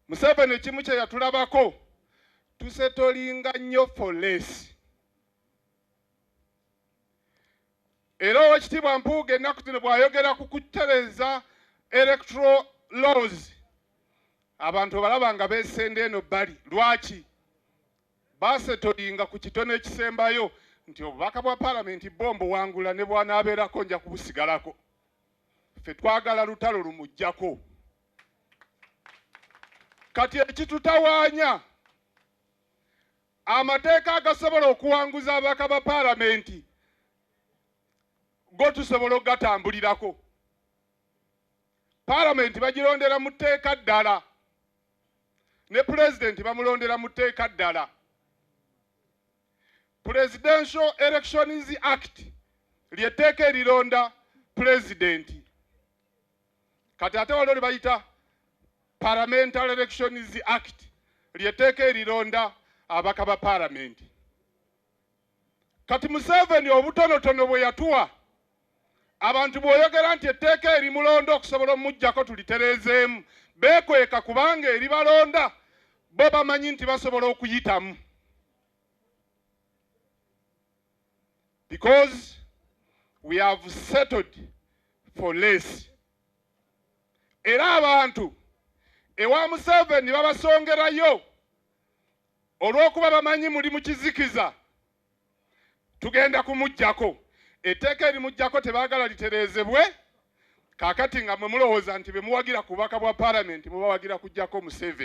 Museveni ekimu kye yatulabako tusetolinga nnyo for less era owekitiibwa Mpuuga ennaku zino bw'ayogera ku kutereeza electoral laws abantu obalaba nga beesenda eno bbali lwaki basetolinga ku kitono ekisembayo nti obubaka bwa palamenti bo mbuwangula ne bwanaabeerako nja kubusigalako ffe twagala lutalo lumujjako kati ekitutawaanya amateeka agasobola okuwanguza ababaka ba paalamenti go tusobola okugatambulirako paalamenti bagirondera mu tteeka ddala ne pulezidenti bamulondera mu tteeka ddala Presidential Elections Act lyetteeka erironda pulezidenti kati ate waliwo lyebayita Parliamentary Elections Act lyetteeka erironda abaka ba palamenti kati museveni obutonotono bwe yatuwa Abantu bw'oyogera nti etteeka erimulonda okusobola omujjako tulitereezeemu, beekweka kubanga eribalonda bo bamanyi nti basobola okuyitamu because we have settled for less era abantu ewa Museveni babasongerayo olw'okuba bamanyi muli mu kizikiza tugenda kumujjako etteeka erimujjako tebaagala litereezebwe kakati nga mwe mulowooza nti bemuwagira ku bubaka bwa palamenti mubawagira kujjako museven